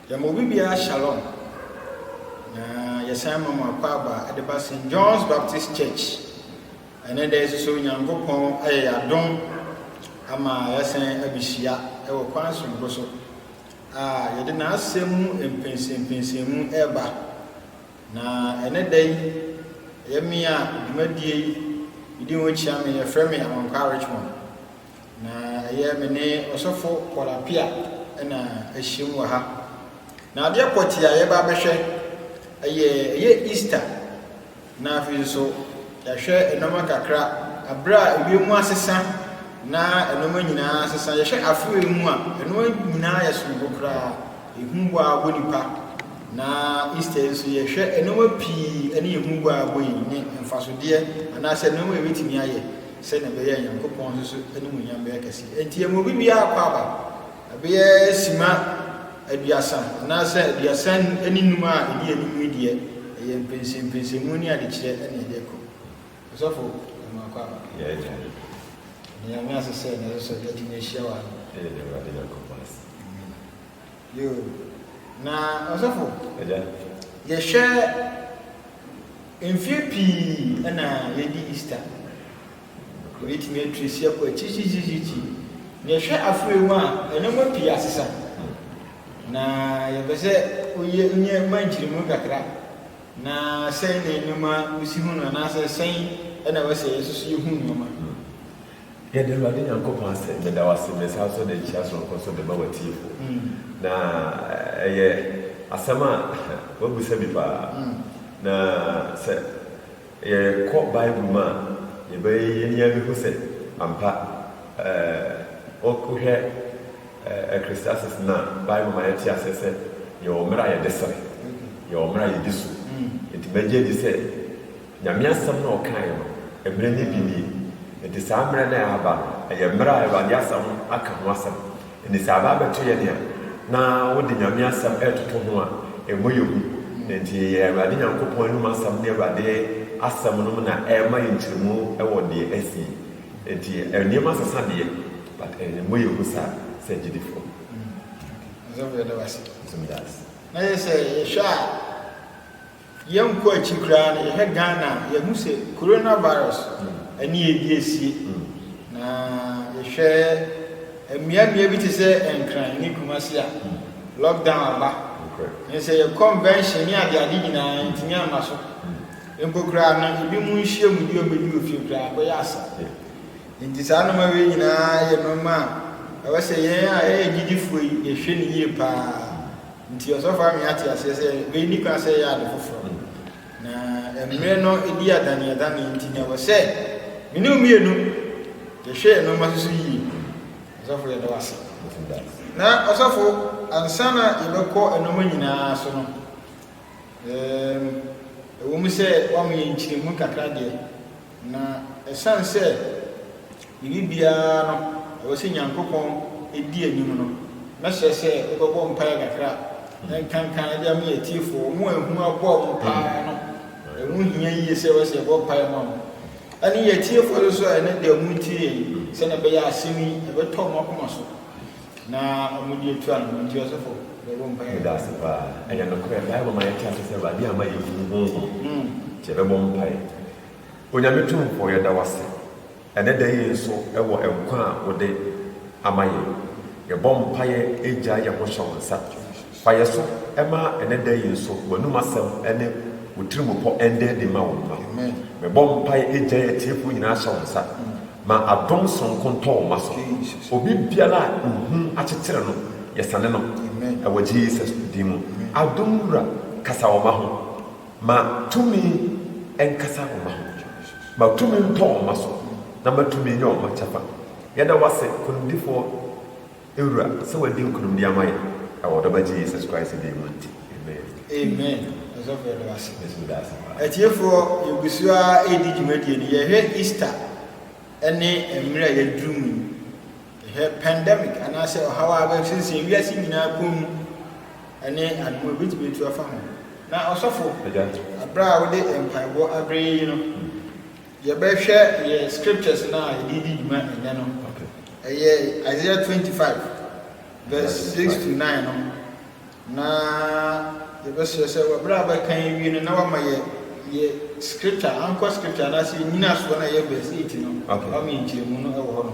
Yɛma obi biara shalom, na yɛsan ma mo akwaaba de ba St. John's Baptist Church. Ɛne dɛ nso so Nyankopɔn ayɛ yɛadom ama yɛasan abehyia wɔ kwan soronko so a yɛde n'asɛm mu mpɛnsɛmpɛnsɛmu ɛreba. Na ɛne dɛ yi, ɛyɛ me a dwumadie yi medi ho kyia me, yɛfrɛ me Awankwa Richmond. Na ɛyɛ me ne ɔsɔfo Paul Appiah na ahyiam wɔ ha. Na adeɛ pɔtee a yɛba abɛhwɛ ɛyɛ ɛyɛ Easter na afei nso yɛahwɛ nneɛma kakra abere a ewiem asesa na nneɛma nyinaa asesa yɛhwɛ afoe mu a ɛno nyinaa yɛ soronko koraa ehu bɔ a bɔ nipa na Easter nso yɛhwɛ nneɛma pii ɛne ehu bɔ a bɔ yi ne mfasodeɛ anaasɛ nneɛma a ebetumi ayɛ Sɛnea ɛbɛyɛ a Nyankopɔn nso so animuonyam bɛyɛ kɛse. Enti ɛma obi biara kɔ aba, ɛbɛyɛ simma aduasa anaasɛ aduasa ne nnum a ɛdi anim yi deɛ, ɛyɛ mpɛnsɛmpɛnsɛmu ne adekyerɛ na yɛde rekɔ. Ɔsɔfo, ɛma akɔ aba. Yɛn Agya. Ɛda Nyame ase sɛ ɛnnɛ nso so yɛatumi ahyia wɔ ha. Ɛyɛ Awurade Nyankopɔn ase. Yoo na ɔsɔfo Agya. yɛhwɛ mfie pii na yɛdi Easter yɛbɛtumi atresi akɔ akyirikyirikyirikyiri na yɛhwɛ aforɛ mu a nneɛma pii asesa na yɛpɛ sɛ woyɛ nyɛ ma nkyerɛmu kakra na sɛn na nneɛma wosi hu no anaasɛ sɛn na ɛwɔ sɛ yɛsoso yɛhu nneɛma. Yɛde Awurade Nyankopɔn asɛm bɛda wo ase, bɛsan nso de nkyea soronko nso de ma w'atiefo. Na ɛyɛ asɛm a w'abisa bi paa. Na sɛ yɛkɔ Bible mu a, yɛbɛyɛ yɛn ani abɛhu sɛ ampa wohwɛ Ecclesiastes no a, Bible ma yɛte aseɛ sɛ yɛwɔ mmerɛ a yɛde sere, yɛwɔ mmerɛ a yɛdi so. Nti mɛgye adi sɛ. Nyame asɛm no a ɔkaeɛ no, mmerɛ no bi nie, enti saa mmerɛ no a ɛreba no, ɛyɛ mmerɛ a Awurade asa ho aka ho asɛm. Enti sɛ aba abɛto yɛn a, na wode Nyame asɛm retoto ho a, ɛmmɔ yɛn hu. Na enti yɛyɛ Awurade Nyankopɔn anom asɛm ne Awurade asɛm nom na ɛrema yɛn nkyerɛmu wɔ deɛ asi yi. Enti nneɛma sesa deɛ, but ɛmmɔ yɛn hu saa sɛ agyidifoɔ. Ɔsɔfo yɛda wo ase. Nso meda wo ase. Na yɛ sɛ yɛhwɛ a. Yɛnkɔ akyiri koraa no, yɛhwɛ Ghana a, yɛhu sɛ Corona virus ne ɛredi asie. Na yɛhwɛ mmeammea bi te sɛ Nkran ne Kumasi a, lockdown aba. Ɛne sɛ yɛ convention ne adeade nyinaa yɛntumi amma so. Mpo koraa no, ebinom nhyiam bi a wɔbɛdi wɔ fie koraa akɔyɛ asa. Enti saa nneɛma wei nyinaa yɛ nneɛma a ɛwɔ sɛ yɛn a yɛyɛ agyidifoɔ yi yɛhwɛ no yie paa. Nti ɔsɔfo Army ate aseɛ sɛ wei nni kwan sɛ ɛyɛ ade foforɔ, na mmerɛ no di adaneadane nti na ɛwɔ sɛ me ne wo mmienu yɛhwɛ yɛn nnoɔma so so yie. Ɔsɔfo yɛda wo ase. Na ɔsɔfo ansa na yɛbɛkɔ nnoɔma nyinaa so no, ɛwɔ mu sɛ woama yɛn nkyerɛmu kakra deɛ, Na ɛsiane sɛ biribiara no ɛwɔ sɛ Nyankopɔn di anim no, mɛsrɛ sɛ wobɛbɔ mpaeɛ kakra na nkanka de ama yɛn atiefoɔ. Wɔn a ehu abɔ wɔn paa no, ɛho hia yie sɛ ɛwɔ sɛ yɛbɔ mpaeɛ ma wɔn. Ɛne yɛn atiefoɔ nso a ɛnɛ da wɔretie yɛn, sɛnea ɛbɛyɛ a asɛm yi ɛbɛtɔ wɔn akoma so. Na ɔmo deɛ tua no nti ɔsɔfo bɛbɔ mpaeɛ. Meda ase paa. Ɛyɛ nokorɛ, Bible ma yɛte ase sɛ Awurade ama yɛn funu honhom nti yɛbɛbɔ mpaeɛ. Onyame Tumfoɔ yɛda wo ase ɛnɛ da yi nso wɔ nkwa a wode ama yɛn. Yɛbɔ mpaeɛ ɛgyae yɛn ho hyɛ wo nsa. Fa yɛn so ma ɛnɛ da yi nso w'anum asɛm ne wo tirimupɔ ɛnda adi ma wo mma. Mebɔ mpaeɛ ɛgyae atiefoɔ nyinaa hyɛ wo nsa. Ma adom sononko ntɔ wo mma so. Obi biara a ehu akyekyere no, yɛsane no wɔ Jesus din mu. Adom Wura, kasa wo mma ho. Ma tumi nkasa wo mma ho. Ma tumi ntɔ wo mma so, na ma tumi nyɛ wo mma kyɛfa. Yɛda wo ase, Konimdifoɔ. Wura, sɛ w'adi nkunimdie ama yɛn wɔ w'ɔdɔ ba Gye Yesus Christ din mu nti, amen. Amen ɔsɔfo yɛda wo ase. Yesu meda ase paa. Atiefoɔ yɛgu so ara ɛredi dwumadie no yɛhwɛ Easter ɛne mmerɛ a yɛaduru mu yi yɛhwɛ pandemic anaasɛ ɔhaw a aba sensɛn wiase nyinaa kɔn mu ɛne adom a ɛbɛtumi atu afa ho na ɔsɔfo Agya. aberɛ a wode mpaebɔ aberɛ yɛyi no Yɛbɛhwɛ yɛn scriptures no a yɛde redi dwuma ɛnnɛ no. Ɛyɛ Isaiah twenty five verse six to nine no. Na yɛbɛsrɛ sɛ wɔbrɛ a bɛkan awie no na wama yɛ yɛ scripture, anchor scripture anaasɛ yɛ nyinasoɔ no a ɛyɛ verse eight no. Wama yɛ nkyerɛmu no wɔ hɔ no.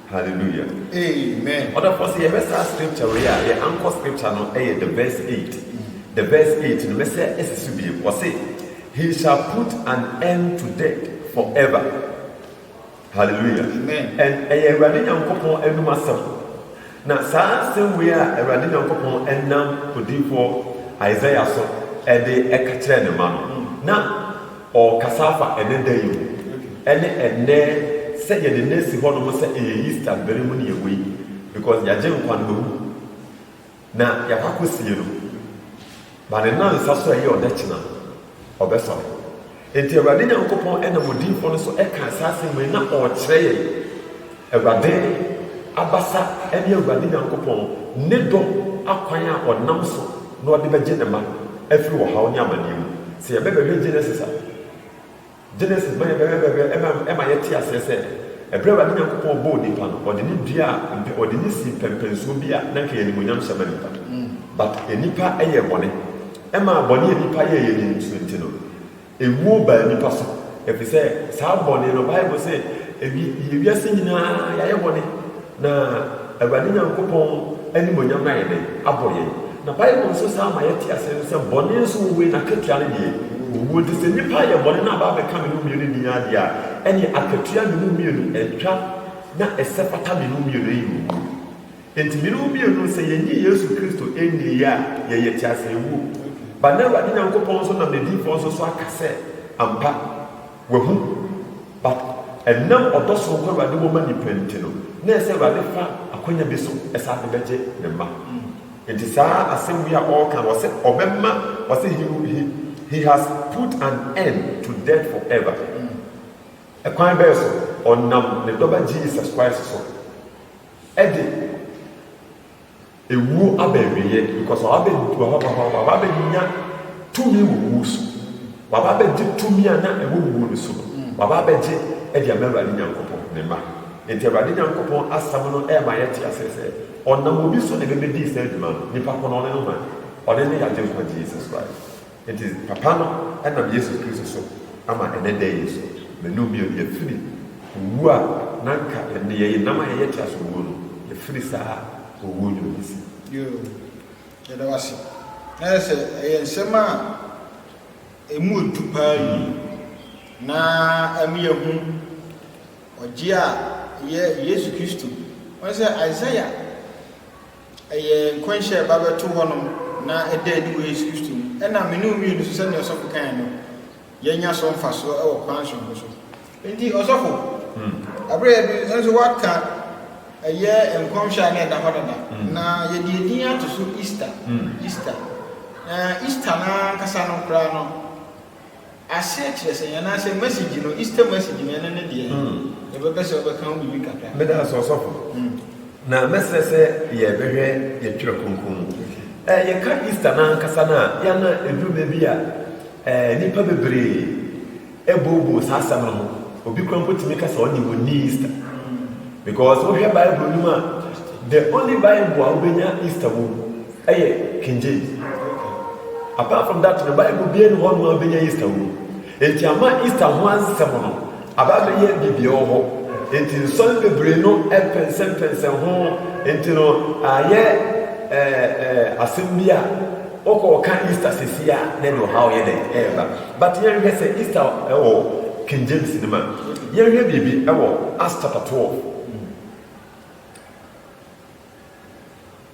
Hallelujah. Amen. Ɔda fɔ sɛ yɛbɛ saa scripture wei a yɛ anchor scripture no ɛyɛ the verse eight. The verse eight no mɛsɛ ɛsi so biem. Ɔse he shall put an end to death forever. Hallelujah. Amen. And ɛyɛ Awurade Nyankopɔn anum asɛm. Na saa asɛm wei a Awurade Nyankopɔn ɛnam odiifoɔ Isaiah so ɛde ɛka kyerɛ ne ma no. Na Ɔrekasa afa ɛnnɛ da yi ho, ɛne ɛnnɛ sɛ yɛde nnɛ asi hɔ nom sɛ ɛyɛ Easter bere mu ne ɛwɔ yi because yɛagye nkwa no mawu na yɛakɔ akɔsie no but ne nnansa so a ɛyɛ ɔdɛkyena no ɔbɛsɔre. Enti Awurade Nyankopɔn nam odiyifoɔ no so ɛkaa saa asɛm wei na ɔrekyerɛ yɛn. Awurade abasa ne Awurade Nyankopɔn ne dɔ akwan a ɔnam so na ɔde bɛgye ne mma afiri ɔhaw ne amaneɛ mu. Sɛ yɛbɛ bɛhwɛ Genesis a, Genesis ma yɛbɛ bɛhwɛ ɛma ɛma yɛte aseɛ sɛ ɛberɛ a Awurade Nyankopɔn bɔɔ nipa no, ɔde no duaa mpɛ, ɔde no sii pɛmpɛnsoɔ bi a na anka ɛyɛ animuonyam hyɛ ma nipa. But nipa yɛɛ bɔne. Ɛmaa bɔne a nipa yɛɛeɛ no nso nti no, Ewuo baa nnipa so, efisɛ saa bɔne no, Bible se, ewi, yɛ wiase nyinaa yɛayɛ bɔne, na Awurade Nyankopɔn animuonyam no ayɛ dɛn? Abɔ yɛn. Na Bible nso san ma yɛte aseɛ nso sɛ, bɔne nso wɔ wei, n'akatua no deɛ, owuo. Nti sɛ nnipa yɛ bɔne na aba abɛka me mu mmienu nni ara deɛ a, ɛneɛ akatua me mu mmienu, ɛtwa na ɛsɛ pata me mu mmienu, ɛyɛ owuo. Enti mene wo mmienu, sɛ yɛnnye Yesu Kristo nniiɛ a, yɛyɛ teaseɛwuo ba. Na Awurade Nyankopɔn nso nam n'adiyifoɔ nso so aka sɛ, Ampa, wahu. But ɛnam ɔdɔ sononko a Awurade wɔ ma nnipa nti no, na ɛsɛ sɛ Awurade fa akwanya bi so san de bɛgye ne mma. Enti saa asɛm wei a ɔreka no, ɔse ɔbɛma, ɔse he he he has put an end to death forever. Ɛkwan bɛn so? Ɔnam ne Dɔba Jesus Christ so. de ewuo aba awieɛ because waba bɛ waba waba waba bɛnya tumi wɔ wuo so waba bɛgye tumi a na ɛwɔ wuo no so no waba bɛgye de ama awurade nyankopɔn ne ma nti awurade nyankopɔn asɛm no ɛma yɛte aseɛ sɛ ɔnam obi so na ɛbɛbɛdii saa adwuma no nipa ko no ɔne no man ɔne ne yɛagye nkwa jesus christ Enti Papa no nam Yesu Kristo so ama ɛnnɛ da yi so, manu bio, yɛafiri owuo a na anka yɛn nneyɛeɛ nam a yɛyɛ tra so owuo no, yɛafiri saa owuo nwunu ase. Yoo, yɛda wo ase. Na ayɛ sɛ ɛyɛ nsɛm a ɛmu ɔdu paa yi, na ɛma yɛhu ɔgyeɛ a ɛyɛ Yesu Kristo. Woahu sɛ Isaiah. Ɛyɛ nkɔnhyɛ a ɛba bɛto hɔnom na ɛda adi wɔ Yesu Kristo mu. Ɛnna me ne wo mmienu nso, sɛnea ɔsɔfo kae no, yɛanya so mfasoɔ wɔ kwan soronko so. Enti, ɔsɔfo, bere a yɛde nso waka ɛyɛ nkɔnhyɛ a na ɛda hɔ dada, na yɛde edin ato so Easter, Easter. Na Easter no ankasa no koraa no, Aseɛ kyerɛ sɛn anaasɛ message no Easter message no ɛno ne deɛ yɛbɛpɛ sɛ wobɛka ho biribi kakra. Meda ase ɔsɔfo. Na mɛsrɛ sɛ yɛbɛhwɛ yɛn twerɛ kronkron mu. Ɛ yɛka Easter no ankasa no a yɛ a na ɛduru baabi a ɛ nnipa bebree ɛbooboo saa asɛm no ho. Obi koraa mpo tumi ka sɛ ɔnnim ɔnni Easter. Because wohwɛ Bible no mu a the only Bible a wobɛnya Easter wɔ mu Ɛyɛ King James. Apart from that no, Bible biara nni hɔ nom a wobɛnya Easter wɔ mu. Enti ama Easter ho asɛm no aba abɛyɛ biribi ɛwɔ hɔ. Enti nsɔre bebree no pɛnsɛmpɛnsɛn ho. Enti no, ayɛ ɛɛ ɛɛ asɛm bi a wokɔ ɔka Easter sɛsi a, na ɛde ɔhaw yɛ dɛn ɛreba. But yɛnhwɛ sɛ Easter ɛwɔ King James no mu a, yɛnhwɛ biribi ɛwɔ Acts chapter twelve.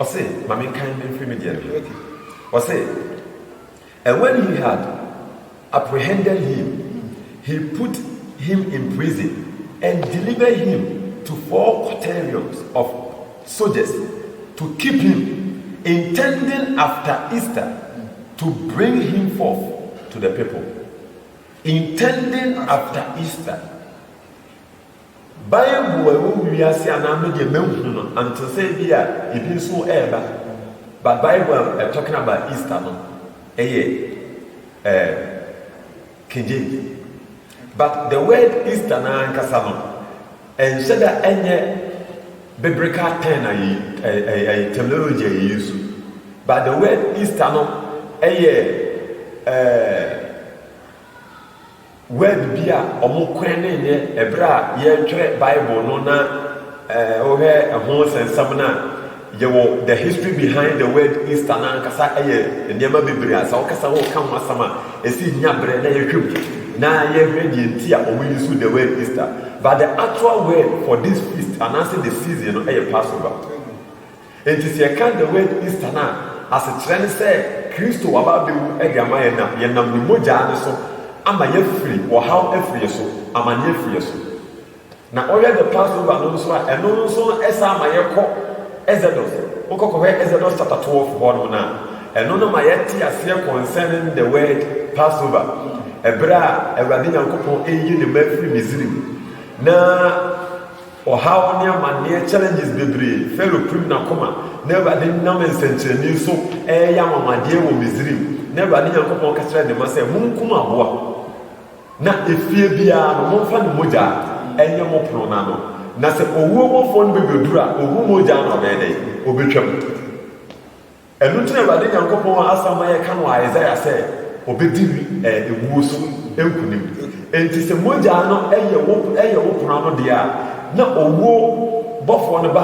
Ɔse, ma menkan mfiri me deɛ no ho. Ɔse, And when he had apprehended him, he put him in prison, and delivered him to four quaternions of soldiers to keep him, intending after Easter to bring him forth to the people. Intending after Easter. Bible a ɛwɔ wiase anaa me deɛ manhu no anto sɛ ebi a ebi nso ɛreba but Bible a ɛ talking about Easter no ɛyɛ eh, King James but the word Easter no ankasa no ɛnhyɛ da ɛnyɛ biblical term a yɛ ɛyɛ terminology a yɛ use but the word Easter no ɛyɛ eh, Word bi a wɔkɔɛn no nyɛ ɛberɛ a yɛretwerɛ Bible no na wohwɛ ɛho nsɛnsɛm no a, yɛwɔ the history behind the word Easter no ankasa yɛ nneɛma bebree a sɛ wokasa woka ho asɛm a ɛsi nya berɛ na yɛhwɛ mu na yɛhwɛ deɛ nti a wɔn use the word Easter but the actual word for this feast anaasɛ the season no yɛ Passover. Enti sɛ yɛka the word Easter no a, asekyerɛ ne sɛ Kristo aba abɛwu de ama yɛn na yɛnam ne mogyaa no so ama yɛafiri, ɔhaw afiri yɛn so, amaneɛ afiri yɛn so. Na ɔyɛ the Passover no nso a, ɛno no nso no ɛsan ma yɛkɔ Exodus. Wokɔ kɔhwɛ Exodus chapter 12 hɔ nom no a, ɛno no ma yɛte aseɛ concerning the word Passover. Ɛberɛ a Awurade Nyankopɔn reyi ne mma afiri Misrim na. Ɔhaw ne amanneɛ, challenges, bebree, Farao pirim n'akoma, na Awurade nam nsɛnkyerɛnne so reyɛ anwanwadeɛ wɔ Misraim, na Awurade Nyankopɔn ka kyerɛɛ ne mma sɛ, Monkum aboa, na efie biara no, momfa ne mogyaa nyɛ mo pono no ano, na sɛ owuo bɔfoɔ no bɛbɛduru a, ɔhu mogyaa no a, ɔbɛyɛ dɛn? Ɔbɛtwam. Ɛno nti na Awurade Nyankopɔn a asɛm ma yɛka no wɔ Isaiah sɛ ɔbɛdi wuo so nkonim. Enti sɛ mogya no yɛ wo yɛ wo pono ano deɛ a, na owuo bɔfoɔ no ba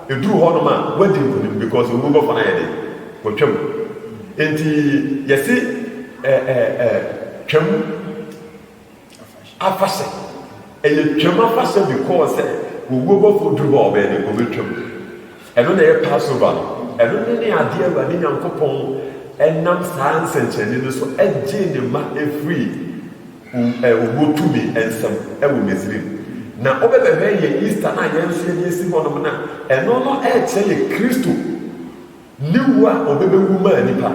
a, ɛduru hɔ nom a, woadi nkonim because owuo bɔfoɔ no ayɛ den, watwam. Enti yɛse ɛ ɛ ɛ twam. Afahyɛ. Ɛyɛ Twam afahyɛ because sɛ owuo bɔfoɔ duru hɔ a ɔbɛyɛ dɛn? Ɔbɛtwam. Ɛno na ɛyɛ Passover no. Ɛno ne ne adeɛ Awurade Nyankopɔn nam saa nsɛnkyerɛnne no so gyee ne mma firii owuo tumi nsam wɔ Misrim. Na wobɛbɛhwɛ yɛn Easter no a yɛn nso yɛde asi hɔnom no a, ɛno no rekyerɛ yɛ Kristo Ne wu a ɔbɛbɛwu maa nnipa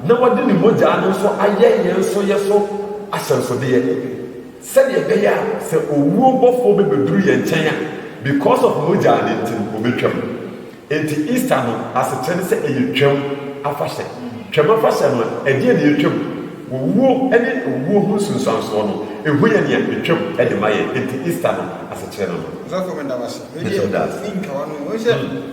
na wɔde ne mogyaa no nso ayɛ yɛn nso yɛ so ahyɛnsodeɛ sɛdeɛ ɛbɛyɛ a sɛ owuo bɔfoɔ bɛbɛduru yɛn nkyɛn a because of mogyaa no nti no ɔbɛtwam. Enti Easter no asekyerɛ ne sɛ ɛyɛ Twam afahyɛ. Twam afahyɛ no ɛdeɛn na ɛtwam? Owuo ne owuo ho nsunsuansoɔ no ɛhu yɛn nea ɛtwam de ma yɛn. Enti Easter no asekyerɛ no no. Ɔsɔfo meda wo ase. Wei deɛ mentwa w'ano. Wohu sɛ.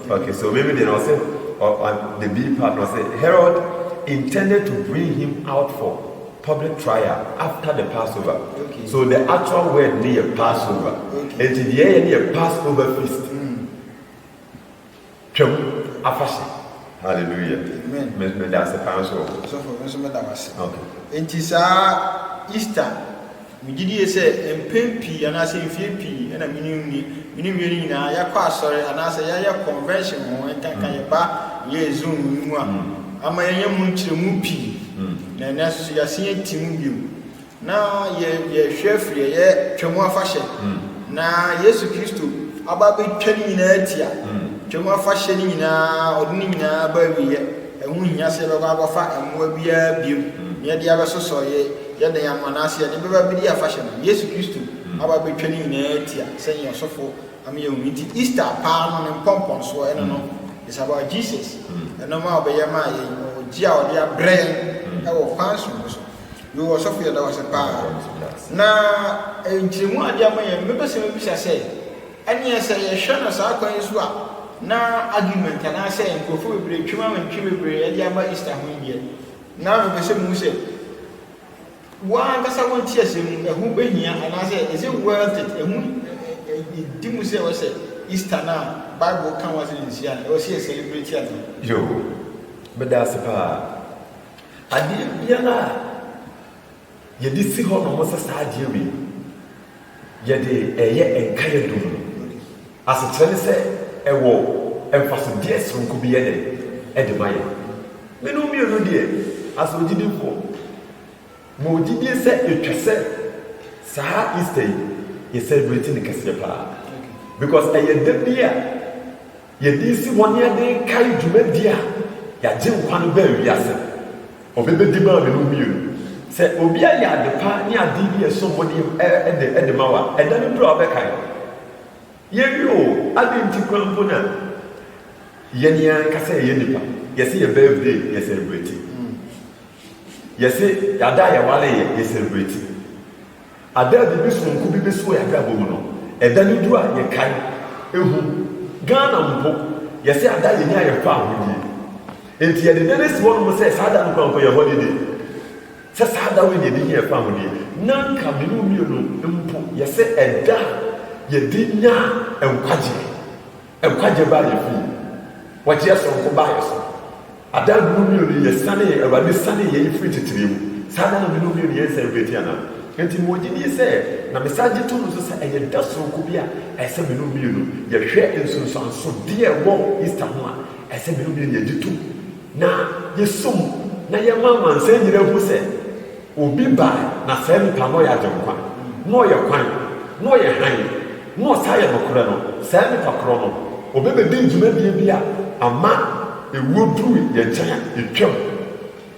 Okay so meme deɛ na ɔse the B part na ɔse Herod intended to bring him out for public trial after the Passover okay. so the actual word ne yɛ Passover okay. nti deɛ ɛyɛ ne yɛ Passover feast mm. twam afahyɛ hallelujah amen meda ase paa nso wɔ hɔ sɔfo nso meda wase okay nti saa Easter Megye die sɛ mpɛn pii anaasɛ mfie pii na me ne Uni, me ne Wieni nyinaa yɛakɔ asɔre anaasɛ yɛayɛ convention ho, nkanka yɛba yɛɛ zone yi mu a, ama yɛanya mu nkyerɛmu pii, na ɛnnɛ nso so yɛasen ati mu bio. Na yɛ, yɛrehwɛ afiri ɛyɛ Twam Afahyɛ, na Yesu Kristo aba abɛtwa ne nyinaa ati a, Twam Afahyɛ no nyinaa, ɔde ne nyinaa aba awieɛ. Ɛho nhia sɛ yɛbɛkɔ akɔfa mmoa biara bio na yɛde abɛsosɔ yɛ, Yɛ dɛn ama no ase? Yɛde bɛba abedi afahyɛ no. Yesu Kristo aba abetwa ne nyinaa ti a sɛnea ɔsɔfo ama yɛahu no. Enti Easter paa no ne mpɔmpɔnsoɔ, ɛno no, it's about Jesus, ɛnɔɔma a ɔbɛyɛ maa yɛn, ɔgye a ɔde abrɛ yɛn wɔ kwan soronko so. Yoo, ɔsɔfo yɛda wo ase paa. Na nkyerɛmu a ade ama yɛn no, mɛpɛ sɛ mɛbisa sɛ, ɛneɛ sɛ yɛhwɛ no saa kwan yi so a, na argument anaasɛ nkurɔfoɔ bebree twam awɛntwe bebree de aba Easter ho yi deɛ, Na mebɛhyɛ mu sɛ, wo ankasa wo nteaseɛ mu ɛho bɛhia anaasɛ is it worth it ɛho ɛdi mu sɛ ɛwɔ sɛ Easter no a Bible ka ho asɛm no nhyia no ɛwɔ sɛ yɛ celebrate anaa? Yoo, meda ase paa. Adeɛ biara a. Yɛde si hɔ nom sɛ saa adeɛ wei yɛde reyɛ nkaeɛ dum no asekyerɛ ne sɛ ɛwɔ mfasodeɛ soronko bi yɛ dɛn de ma yɛn. Menom mmienu deɛ asɛ ɔgyidifo ma ɔgyidie sɛ ɛtwa sɛ saa Easter yi yɛ celebrate no kɛseɛ paa because ɛyɛ da bi a Yɛde resi hɔ na yɛde rekae dwumadi a y'Agyenkwa no baa wiase no, Ɔbɛ bedi maa me no mmienu. Sɛ obi ayɛ ade pa ne ade bi a ɛsom bo de de de ma wo a, ɛda no duru a wobɛkae no. Yɛwie o, adɛn nti koraa mpo na yɛn yɛn ankasa yɛyɛ nnipa, yɛse yɛ birthday yɛ celebrate, yɛse yɛada a yɛware yɛ yɛ celebrate. Ada a biribi soronko bi besi wɔ yɛn abrabɔ mu no, ɛda no du a, yɛkae. Ehu. Ghana mpo, yɛse ada a yenyaa yɛn faa ho nie. Enti yɛde da no asi hɔnom sɛ saa da no koraa mpo yɛ holiday. Sɛ saa da wei na yɛde hiaa faa ho deɛ, na anka me ne wo mmienu mpo yɛse ɛda a yɛde nyaa nkwagyeɛ. Nkwagyeɛ baa yɛn fie. Wɔgyeɛ soronko baa yɛn so. Ada no mu mmienu yi, yɛsanee, Awurade sanee yɛn firi titire mu. Saa da no de no mu mmienu, yɛnsan mfiri akyiri anaa? Enti mewɔ gyidie sɛ, na mesan gye tom nso sɛ, ɛyɛ da sononko bi a ɛsɛ me no mmienu yɛhwɛ nsunsuansodeɛ a ɛwɔ Easter ho a ɛsɛ me no mmienu yɛgye tom na yɛsom na yɛma amansan nyinaa hu sɛ, Obi bae, na saa nipa no ɔyɛ Agyenkwa, na ɔyɛ kwan, na ɔyɛ hann, na ɔsan yɛ nokorɛ no, saa nipa korɔ no, ɔbɛbɛdi dwumadie bi a ama ɛwuo duru yɛn nkyɛn a, ɛtwam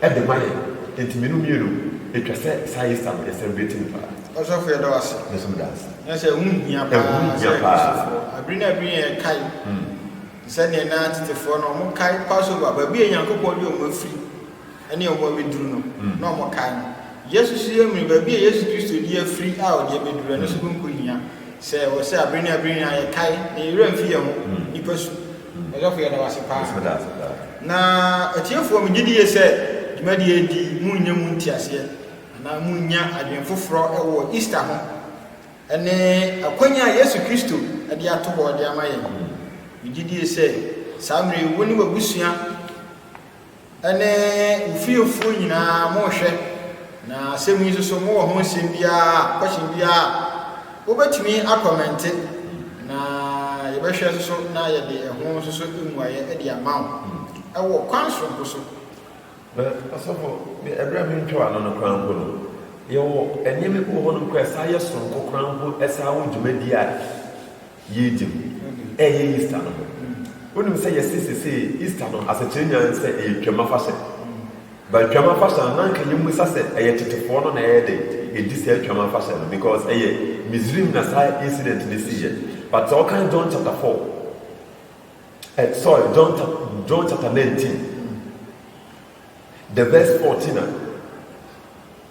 de ma yɛn. Enti mmienu mmienu, ɛtwa sɛ saa Easter no yɛsan bi tim paa. Ɔsɔfo yɛda wo ase. Me nso meda ase. Na sɛ ɛho hia paa Ɛho hia sɛ paa. Kristofoɔ abiri ne abiri nyinaa yɛkae te sɛ neɛ na tetefoɔ no wɔkae Passover, baabi a Nyankopɔn de wɔn afiri. ne ɔmo abeduru no na ɔmo kae no. Yesu so yɛ muni, baabi a Yesu Kristo di afiri a ɔde abeduru, ɛno so nko hia. Sɛ ɛwɔ sɛ abere ne abere nyinaa yɛ kae na yɛ werɛ mfi yɛ ho nipa su, Ɔsɔfo yɛda wo ase paa. Na atiefoɔ me gye di yie sɛ dwumadie yi nti mo renya mu nteaseɛ anaa mo renya adwene foforɔ wɔ Easter ho ɛne akwanya a Yesu Kristo de ato hɔ de ama yɛn. Me gye die sɛ saa mmerɛ yi wo ne w'abusua Ɛne mo fiefoɔ nyinaa monhwɛ, na asɛm yi nso so mowɔ ho nsɛm biara, question biara a, mobɛtumi akɔmɛnte na yɛbɛhwɛ nso so na yɛde ɛho nso so mmuaeɛ de ama wo ɛwɔ kwan soronko so. Na ɔsɔfo, me ɛberɛ a mentwa w'ano no koraa mpo no, yɛwɔ nneɛma bi wɔ hɔnom koraa a ɛsan yɛ soronko koraa mpo ɛsan wɔ dwumadie a. Yɛregye mu. Ɛreyɛ Easter no ho. Wonim sɛ yɛse sesei Easter no asekyerɛ nyinaa ne sɛ ɛyɛ Twam afahyɛ. But Twam afahyɛ no na anka yɛmmisa sɛ ɛyɛ tetefoɔ no na ɛyɛ dɛn ɛdi saa Twam afahyɛ no because ɛyɛ Misrim na saa incident no siiɛ. But sɛ wokan John chapter four eh, sorry John, John chapter nineteen the verse fourteen a,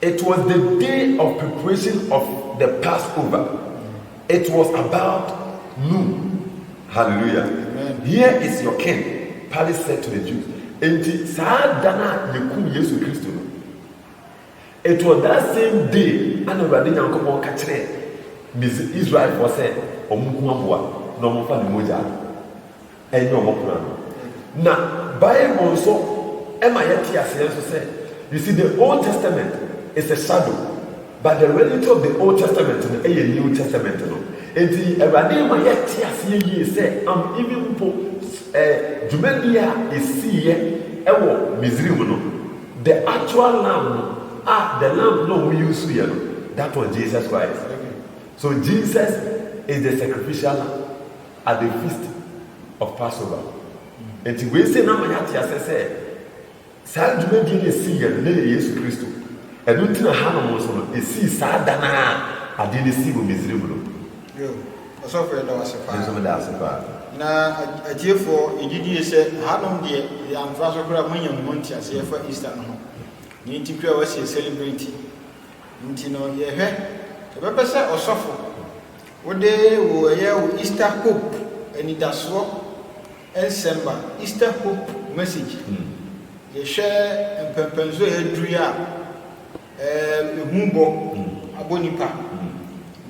It was the day of preparation of the Passover, it was about noon, hallelujah, here is your king, Pilate said to the Jews. Enti saa da no a yɛkum Yesu Kristo no, it was that same day ana Awurade Nyankopɔn ka kyerɛɛ Israelfoɔ sɛ wɔn nko aboa na wɔmfa ne mogya Ɛnyɛ wɔn kwan no. Na Bible nso ma yɛte aseɛ nso sɛ, you see, the Old Testament is a shadow, but the reality of the Old Testament no yɛ New Testament no. Enti Awurade ma yɛte aseɛ yie sɛ am even mpo eh, dwumadie a ɛsiiɛ ɛwɔ Misrim no, the actual lamb no, a the lamb no a wɔn yusuiɛ no, that was Jesus Christ. So Jesus is the sacrificial lamb. at the feast of passover nti wei sɛ na ma yɛate asɛ sɛ saa dwumadie no ɛsii yɛ no na yɛ yesu kristo ɛno nti na hanom nso no ɛsii saa da no a adeɛ no sii wɔ misrim no ɔsɔfo yɛ da wase paa nso meda ase paa na atiefoɔ yɛgyidie sɛ hanom deɛ yɛ amfa so koraa moanya mo ho nteaseɛ fa easter no ho ne nti koraa wasi celebrate nti no yɛhwɛ yɛbɛpɛ sɛ ɔsɔfo Wode wo ɛyɛ wo Easter Hope anidasoɔ nsɛmba, Easter Hope Message. Yɛhwɛ mpɛnpɛnsoɔ a yɛaduru yi a, ɛhu bɔ abɔ nnipa,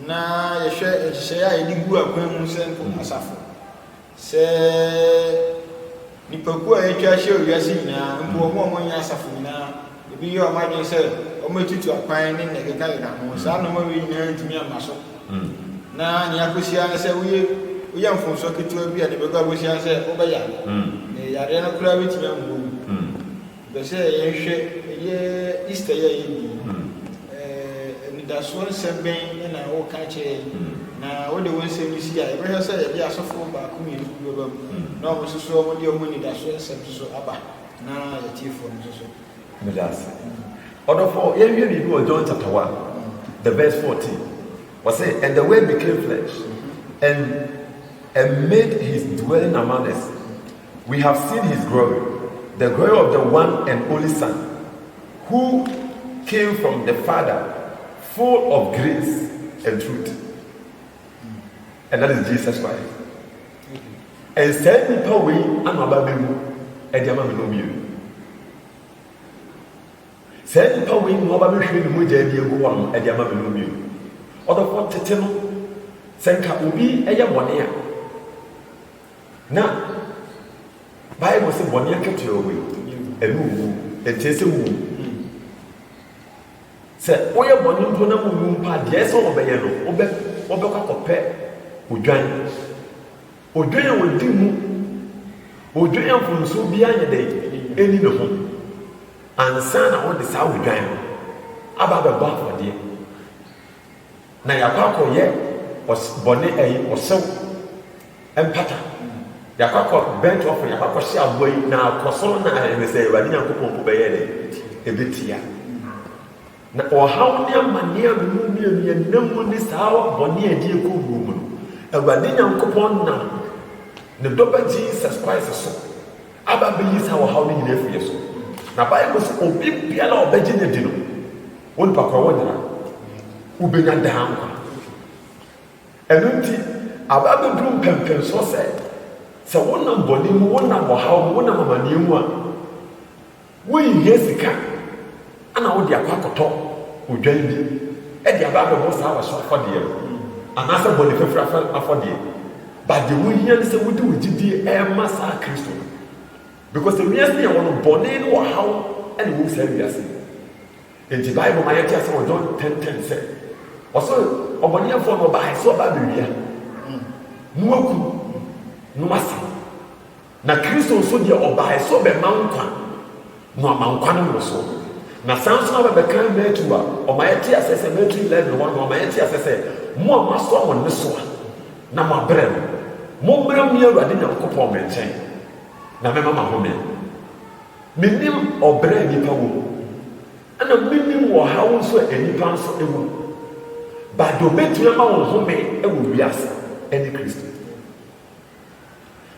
na yɛhwɛ nhyehyɛeɛ a yɛde gu akwan mu sɛ asafo. Sɛ nnipakuo a atwa ahyia wɔ wiase nyinaa, mpo wɔn a wɔnyɛ asafo nyinaa, ebi yɛ wɔn adwene sɛ wɔbɛtutu akwan ne nea ɛkekakeka ho, saa nneɛma wei nyinaa rentumi amma so. Na nea akɔsi ara ne sɛ woyɛ woyɛ mfomsoɔ ketewa bi a nea ɛbɛkɔ akɔsi ara ne sɛ wobɛyare, na yareɛ no koraa bɛtumi ahu wo. Mepɛ sɛ yɛhwɛ ɛyɛ Easter yi a yɛredi yi, anidasoɔ nsɛm bɛn na woka kyerɛ yɛn? Na wode wo nsɛm yi si a, yɛbɛhwɛ sɛ yɛde asɔfoɔ baako mmienu bi bɛba mu na wɔn nso so wɔde wɔn anidasoɔ nsɛm nso so aba na yɛtiefoɔ no nso so. Meda ase. Ɔdɔfoɔ, yɛnhwɛ biribi wɔ John chapter one, the verse fourteen. Wɔsɛ, and the word became flesh and and made his dwelling among us. We have seen his glory, the glory of the one and only Son, who came from the Father, full of grace and truth. And that is Jesus Christ. And send me power way, I'm a baby, and I'm a baby. saa nipa wei na ɔba bɛhwɛ ne mogya adi agu hɔ no ɛde ama me no bio ɔdɔfo tete no sɛ nka obi yɛ bɔne a Na Bible se bɔne akatua owe, ɛne owu, ɛnkyerɛ sɛ wuwu. Sɛ woyɛ bɔne mpo na wuwu mpa deɛ sɛ wɔbɛyɛ no, wobɛ wɔbɛkɔ akɔpɛ odwan. Odwan a wɔdi mu, odwan a mfomsoɔ biara nyɛ dɛn, ɛni ne ho. Ansa na wode saa odwan no aba abɛbɔ afɔdeɛ. na yɛakɔ akɔyɛ ɔs bɔne ɛyi ɔsɛw mpata yɛakɔ akɔ bɛnt ɔfɔ yɛakɔ akɔhyɛ aboa yi na akɔ soro na ayɛ ne sɛ awurade nyankopɔn mpo bɛyɛ dɛ ɛbɛtia na ɔhaw ne amanneɛ a memu mmienu yɛnam mu ne saa bɔne a ɛde ɛkɔ wuo mu no awurade nyankopɔn nam ne dɔba jesus christ so aba bɛyi saa ɔhaw no nyina afiri yɛ so na bible sɛ obi biara a ɔbɛgye no adi no Wodɔ kɔ a, wonyera. Wubenya daa nkwa. Ɛno nti, aba abeduru mpɛmpɛnsoɔ sɛ, sɛ wonam bɔne mu, wonam ɔhaw mu, wonam amaneɛ mu a, wonhia sika na wode akɔ akɔtɔ odwan bi de aba abɛbɔ saa w'aso afɔdeɛ no anaasɛ bɔne fafiri afɔdeɛ. But deɛ wohia ne sɛ wode wo gyidie ɛrema saa Kristo no. Because the wiase yɛ wɔ no bɔne ne ɔhaw na ɛwom saa wiase yi enti bible ma yɛte asɛ wɔ John 10:10 sɛ ɔsɛ ɔbɔneɛfoɔ no ɔbaɛ sɛ ɔba abɛwia na waku na wasa na kristo nso deɛ ɔbaɛ sɛ ɔbɛma nkwa na ɔma nkwa no mmorosoɔ na saa nso na bɛbɛka matu a ɔma yɛte asɛ sɛ matu 11 hɔ no ɔma yɛte asɛ sɛ mo a moasoa mo nnesoa na moabrɛ no mommra me awurade nyankopɔn me nkyɛn na mɛma mahome. Menim ɔbrɛ a nnipa wɔ mu, ɛnna menim ɔhaw nso a nnipa nso wɔ mu. Bado betumi ama wo home wɔ wiase ne Kristo.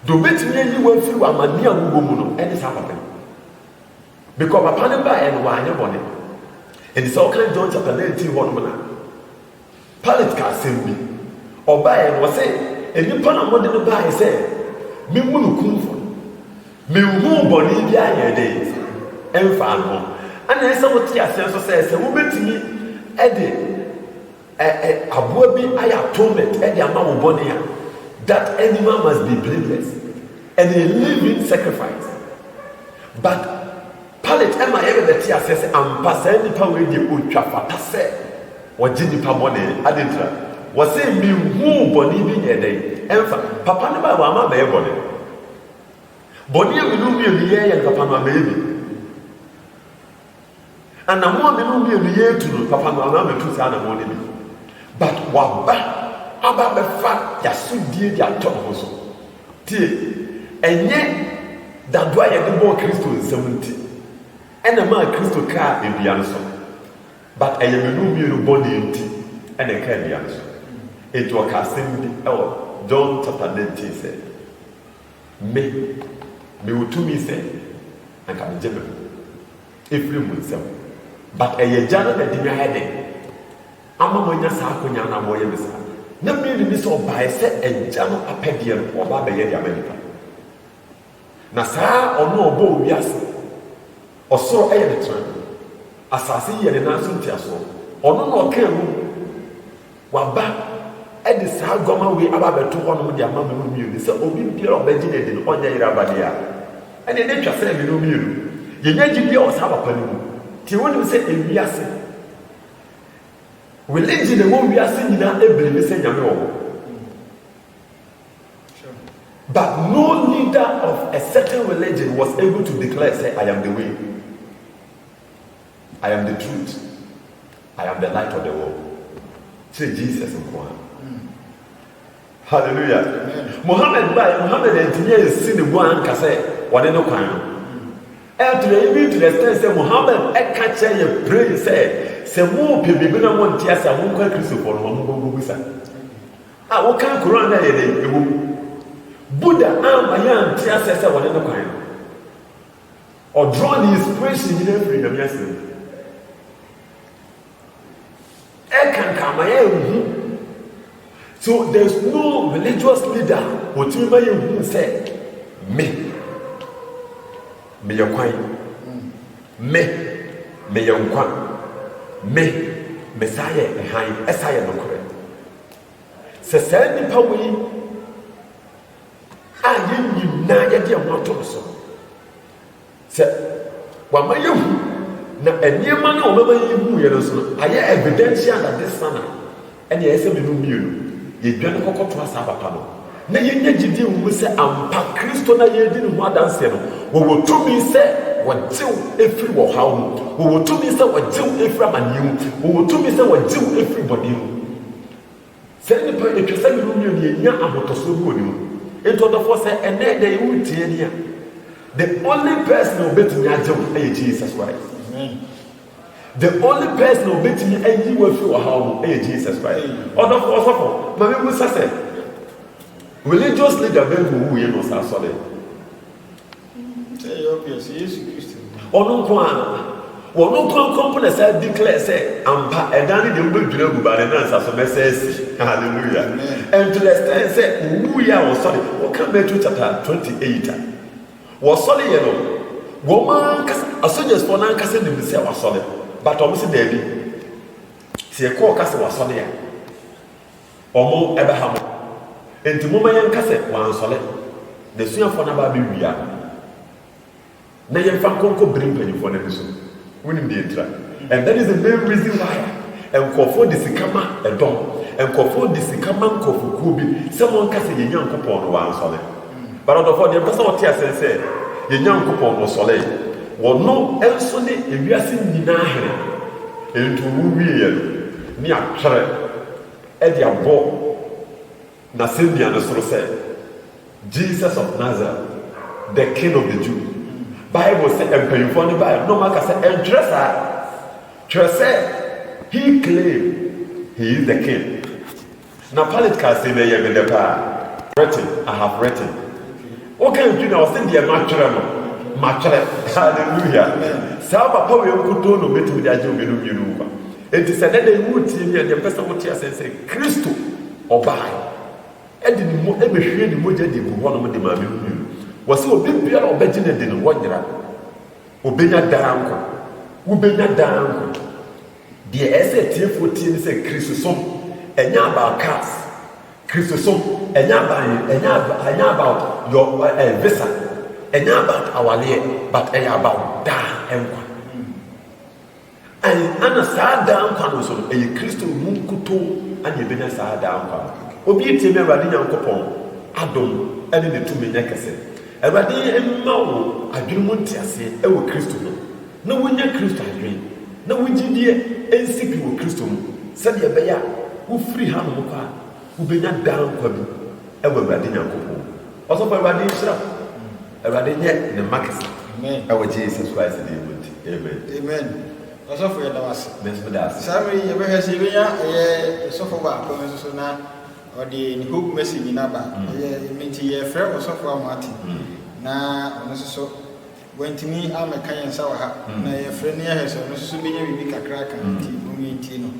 Do betumi ayi wo afiri w'amanneɛ a wobɔ mu no ne saa papa yi. Bikɔ papa no baeɛ no wanyɛ bɔne. Ɛnti sɛ wokan John chapter 19 hɔ nom na Pilate ka asɛm bi. Ɔbaeɛ no, ɔse, Nnipa na mode no baeɛ sɛ menwu no kumfɔ no. Menhuu bɔne biara a yɛde mfaa no ho. Ɛna ɛsɛ sɛ wote aseɛ nso sɛ, sɛ wobɛtumi de ɛ, ɛ, aboa bi ayɛ atonement de ama wo bɔne a, that animal must be blameless and a living sacrifice. But Pilate ɛma yɛn nana te aseɛ sɛ ampa saa nipa wei deɛ ɔtwa fata sɛ ɔgye nipa bɔne, adɛn ntira? Ɔse me nhuu bɔne bi nyɛɛ dɛn? Ɛmfa, papa no baɛ wamma ammɛyɛ bɔne. Bɔne a me no mmienu yɛɛyɛ no papa no ammɛyɛ bi. Anamɔn a me no mmienu yɛɛtu no papa no amma ammɛtu saa anamɔn no bi. But waba aba abɛfa yasodie de atɔ ne ho so. Tie! Ɛnyɛ dadoo a yɛde bɔɔ Kristo nsam nti na ɛmaa Kristo kaa dua no so, but ɛyɛ manu mmienu bɔne nti na ɛkaa dua no so. Enti ɔkaa asɛm bi wɔ John chapter nineteen sɛ, Me, mewɔ tumi sɛ anka megye me ho ɛfiri mo nsam, but ɛyɛ Agya no na ɛde me ayɛ dɛn? ama moanya saa akonya no a wɔreyɛ no saa. Na me nim ne sɛ ɔbaeɛ sɛ Agya no apɛdeɛ no ɔba abɛyɛ de ama nnipa. Na saa ɔno a ɔbɔɔ wiase, ɔsoro yɛ ne tenabea, asase yi yɛ ne nan so nteasoɔ, ɔno na ɔkaa mu, waba de saa guama wei aba abɛto hɔnom de ama me no mmienu sɛ obi biara a ɔbɛgye no adi no ɔnyɛ yere aba deɛ a ɛne ne twa sɛ me no mmienu yɛnya gyidie wɔ saa papa no mu. Nti wonim sɛ ewiase Religion a ɛwɔ wiase nyinaa ɛbelieve sɛ Nyame wɔ hɔ. But no leader of a certain religion was able to declare say I am the way. I am the truth. I am the light of the world. Kyerɛ Jesus nko ara. Hallelujah! Mohammed bae, Mohammed antumi ansi ne bo anka sɛ wɔne no kwan no. And to the even to the extent sɛ Mohammed ɛka kyerɛ yɛ plain sɛ, sɛ mopɛ biribi na monte ase a monkɔ Akristofoɔ no hɔ, monkɔ nkɔbisa. A wokan Koran no a ɛyɛ dɛn? Ɛwɔ mu. Buddha amma yɛ ante aseɛ sɛ wɔne no kwan no. Ɔdraw ne inspiration nyinaa firi Nyame asɛm mu. Ɛkankan ma yɛhu. So there's no religious leader otumi ma yɛhu sɛ me meyɛ kwan me meyɛ nkwa me mesaa yɛ hann ɛsa yɛ nokorɛ sɛ saa nnipa wei a yɛnyim na yɛde ɛho ato no so Sɛ wama yɛahu, na nneɛma no a wɔbɛma yɛahu yɛ no nso no ayɛ evidential that this Son a, ɛnneɛ ɛyɛ sɛ me no mmienu yɛdwane kɔkɔtoa saa papa no na yɛnya gyidie wɔ mu sɛ ampa Kristo no a yɛredi ne ho adanseɛ no, wɔwɔ tumi sɛ wɔgye wo firi ɔhaw mu, wɔwɔ tumi sɛ wɔgye wo firi amaneɛ mu, wɔwɔ tumi sɛ wɔgye wo firi bɔne mu. Saa nipa yi etwa sɛ ne no nua no enya ahotɔsoɔ bi wɔ ne mu. Nti ɔdɔfoɔ sɛ ɛnɛ dɛn wo retie ni a, the only person a ɔbɛtumi agye wo ɛyɛ Jesus Christ. Amen. The only person a ɔbɛtumi ayi wo afiri ɔhaw mu ɛyɛ Jesus Christ. Ɔdɔfoɔ ɔsɔfo, ma me busa sɛ, religious leader bɛn na ɔwuiɛ na ɔsan sɔree? Sɛ ɛyɛ obvious, sɛ Yesu Kristo. Ɔno nko a. Wɔn nko anko mpo na saa declare sɛ ampa ɛdan no deɛ wobɛdwira agu ba ne nansa so mɛsɛ asi. Hallelujah. And to the extent sɛ owuiɛ a wɔsɔre, woka Matthew chapter 28 a, wɔsɔre yɛ no, wɔn ankasa, asogyasfoɔ no ankasa nim sɛ wasɔre, but wɔn se daabi. Sɛ yɛkɔ ɔka sɛ wasɔre a. Wɔbɛha mo. Enti momma yɛnka sɛ wɔansɔre. N'asuafoɔ no aba abɛwia no, na yɛmfa nkɔnkɔ bere mpanimfoɔ no ani so. Wonim deɛ enti a? And that is the main reason why nkurɔfoɔ de sika ma ɛdɔm. Nkurɔfoɔ de sika ma nkurɔfokuo bi sɛ wɔnka sɛ yɛn Nyankopɔn no wansɔre. But ɔdɔfoɔ, deɛ mepɛ sɛ wote aseɛ ne sɛ, yɛn Nyankopɔn no ɔsɔree. Ɔno nso ne ewiase nyinaa Hene. Enti ɔwu wieeɛ no, ne atwerɛ. de abɔ n'asɛnnua no soro sɛ, Jesus of Nazareth, the King of the Jew. Bible sɛ mpanyimfoɔ no baeɛ na wɔaka sɛ ɛntwerɛ saa. Twerɛ sɛ he claim he is the king. Na Pilate kaa sɛ na ɛyɛ me dɛ paa. Written, I have written. Woka ntwi na ɔsɛ deɛ matwerɛ no matwerɛ. Hallelujah. Saa papa wei nkutoo na ɔbɛtumi de agye obinom mmienu nkwa. Enti sɛ ɛnnɛ da yi woretie me a, deɛ mepɛ sɛ wote aseɛ ne sɛ, Kristo ɔbaeɛ de ne mo, bɛhwiee ne mogya de guu hɔnom de maa me no bio. Wɔse obi biara a ɔbɛgye no adi no, wɔnyera no. Ɔbɛnya daa nkwa. Wobɛnya daa nkwa. Deɛ ɛsɛ sɛ atiefoɔ tie ne sɛ, Kristosom, ɛnyɛ about cars. Kristosom, ɛnyɛ about yɛn, ɛnyɛ, ɛnyɛ about your uh, uh, visa. Ɛnyɛ about awaleɛ, but ɛyɛ about daa nkwa. Aane, ana saa daa nkwa no nso no ɛyɛ Kristo no mu nkutoo na yɛbɛnya saa daa nkwa no? Obi retie me a, Awurade Nyankopɔn adom ne ne tumi nyɛ kɛse. Awurade mma wo adwene mu nteaseɛ wɔ Kristo ho, na wonya Kristo adwene, na wo gyidie nsi pi wɔ Kristo mu, sɛdeɛ ɛbɛyɛ a wofiri hanom kɔ a, wobɛnya daa nkwa bi wɔ Awurade Nyankopɔn mu. Ɔsɔfo Awurade nhyira wo. Awurade nyɛ ne mma kɛse ɛwɔ Jesus Christ din mu nti, amen. Amen Ɔsɔfo yɛda wo ase. Me nso meda ase. Saa mmerɛ yi yɛbɛhwɛ sɛ yɛbɛnya ɛyɛ ɔsɔfo baako nso so na ɔde ne hope message nyina ba. Mm. Ɛyɛ ɛmi nti yɛfrɛ ɔsɔfo a moate mm. na ɔno nso so wantumi amɛka yɛn nsa wɔ ha mm. na yɛfrɛ no yɛhwɛ sɛ ɔno nso so bɛnya biribi kakra ka nti mom yɛntie no.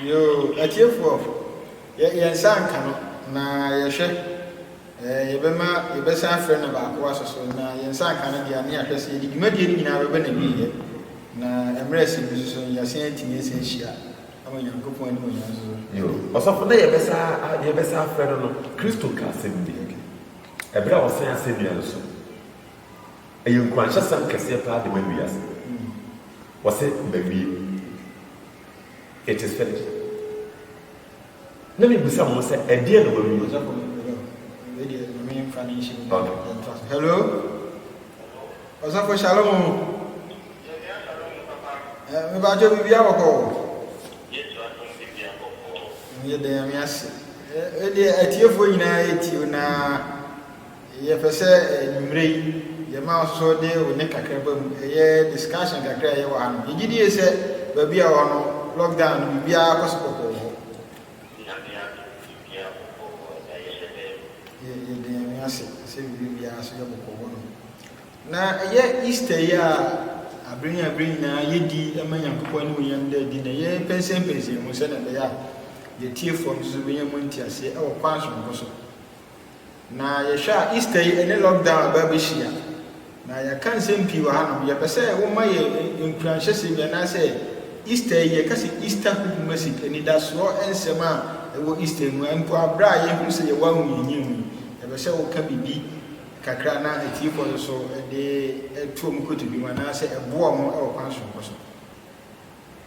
Yoo, atiefoɔ, yɛn nsa anka no, na yɛhwɛ. Ɛɛ, yɛbɛma, yɛbɛsan afrɛ no baako aso so, na yɛn nsa anka no deɛ a, ne yɛahwɛ sɛ yɛde dwumadie no nyinaa bɛba n'awieɛ, na mmerɛ a ɛsɛ bi nso so no, yɛasan atumi asa ahyia ama Nyankopɔn animuonyam nso so. Yo, ɔsɔfo, na yɛbɛsa a, yɛbɛsa afrɛ no no, Kristo kaa asɛm bi, ɛberɛ a ɔsɛn asɛnnua no so. Ɛyɛ nkuranhyɛsɛm kɛseɛ paa de ma wiase. Ɔse, Mawie. It is finished. Na mebisa mo sɛ, ɛdeɛn na wawie? Ɔsɔfo no, hello, wei deɛ Nyame mfa no nhyɛ mu na Okay. yɛntoa so. Hello? Ɔsɔfo Shalom o. Eh, Mebadwo biribiara bɔkɔ o. Ɛyɛ dɛ Nyame ase. Eh, wei deɛ atiefoɔ nyinaa ɛtie o na Yɛpɛ sɛ anwumerɛ yi yɛma wo nso de wo nne kakraba mu, ɛyɛ discussion kakra a ɛyɛ wɔ ha no. Yɛgye die sɛ baabi a wɔwɔ no lockdown no biribiara kɔ so bɔkɔɔ wɔ hɔ. Nyame adom biribiara bɔkɔɔ hɔ na yɛhyɛ da yi. Yɛda Nyame ase sɛ biribi biara nso yɛ bɔkɔɔ hɔ nom. Na ɛyɛ Easter yi a aberɛ yi aberɛ nyinaa yɛdi ma Nyankopɔn animuonyam da adi na yɛpɛnsɛmpɛnsɛn mu sɛdeɛ ɛbɛyɛ a yɛtiefoɔ nso bɛnya mu nteaseɛ wɔ kwan sononko so. Na yɛhwɛ a Easter yi ɛne lockdown aba abɛhyia. Na yɛaka nsɛm pii wɔ hanom. Yɛpɛ sɛ woma yɛ nkuranhyɛsɛm yi anaasɛ Easter yi yɛka sɛ Easter hope message, anidasoɔ nsɛm a ɛwɔ Easter mu. Mpo aberɛ a yɛhu sɛ yɛwɔ ahohiahia mu yi, yɛpɛ sɛ woka biribi kakra na atiefoɔ no so de to wɔn kotodwe mu anaasɛ ɛboa wɔn wɔ kwan soronko so.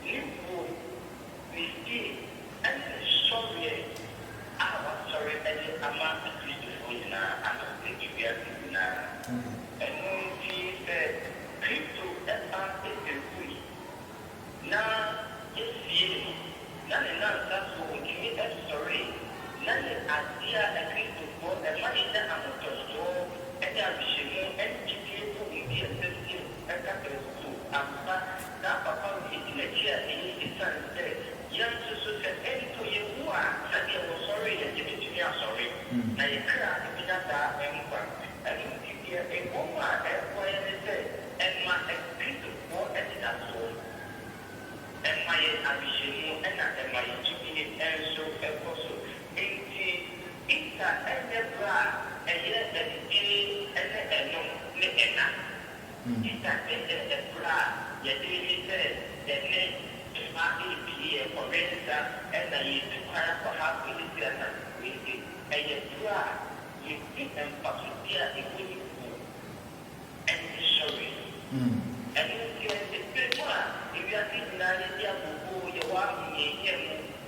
Ne wuo, ne yie ne ne sɔreɛ a wasɔre de ama Akristofoɔ nyinaa ano adi wiase nyinaa. Ɛno nti sɛ Kristo ba bɛwui na yɛsiee no na ne nnansa so ɔtumi sɔree na yɛ adeɛ a Akristofoɔ ɛma yɛnya ahotɔsoɔ ne awehyɛmu ne gyedie wɔ baabi a ɛsɛ sɛ yɛ. Da bɛn mu? Ampa, saa papa no nkyerɛkyerɛ a eye esiane sɛ yɛn nso so sɛ mpo yewu a sɛdeɛ wɔsɔree yɛn de betumi asɔre na yɛn kra abenya daa nkwa. Ɛno nti deɛ ɛwɔ mu a ɛreboa yɛn ne sɛ ɛma Kristofoɔ anidasoɔ, ɛma yɛn awehyɛmu na ɛma yɛn gyidie nso kɔ so Enti, Easter nyɛ bere a ɛyɛ anigye ne ɛnom ne ɛna. Easter de yɛ bere a yɛde reyi sɛ yɛne mma repie yɛn ɔwɛn-sira na yɛretu kwan akɔha Felicia Nantekwese. Ɛyɛ bere a yɛdi mfasodi a ɛwɔ ne wu ne ne sɔre so. Ɛno nti, ɛyɛ bere a wiase nyinaa yɛde abooboo yɛwɔ ahohiahia mu.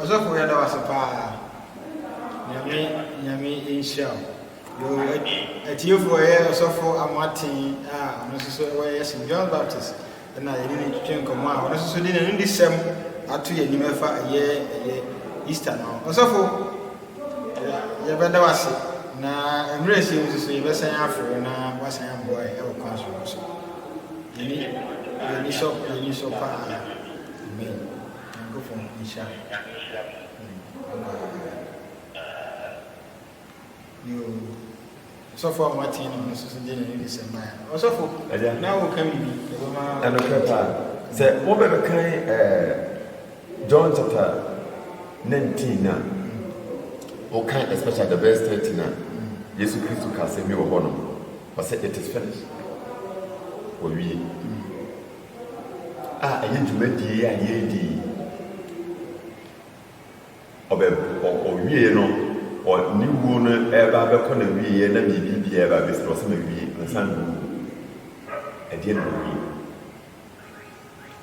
Ɔsɔfo yɛda wo ase paa. Nyame nyame nhyira wo. Yo atiefo ɛyɛ ɔsɔfo Amoaten a ɔno nso so ɛwɔ ɛyɛ St John Baptist ɛna yɛne ne twetwe nkɔmɔ a ɔno nso so de n'anudisɛm ato yɛn anim ɛfa ɛyɛ ɛyɛ Easter no. Ɔsɔfo Yɛbɛda wo ase, na mmerɛ ɛsɛ mu nso yɛbɛsan afrɛ wo na woasan aboa yɛn wɔ kwan soronko so. Yɛn ani sɔ paa. Amen. Nyankopɔn nhyira wo. Bye bye. Yoo. Ɔsɔfo a moatee ne ho no susu dɛn na ne nsɛm ma yɛn? Ɔsɔfo, Agya. na woreka biribi? Ɛbɛma. Ɛnokorɛ paa. Sɛ wobɛbɛkan ɛɛ John chapter 19 no a, wokan especially the verse 30 no a, Yesu Kristo ka asɛm bi wɔ hɔ no, ɔsɛ it is finished. Wɔwie. A ɛyɛ dwumadie a yɛredi yi. Ɔbɛ ɔ ɔwiee no ɔ ne wuo no reba abɛkɔ n'awieeɛ na biribi biara reba abɛsi no, ɔsɛ mawie ansa na mawu. Ɛdeɛ na mawie.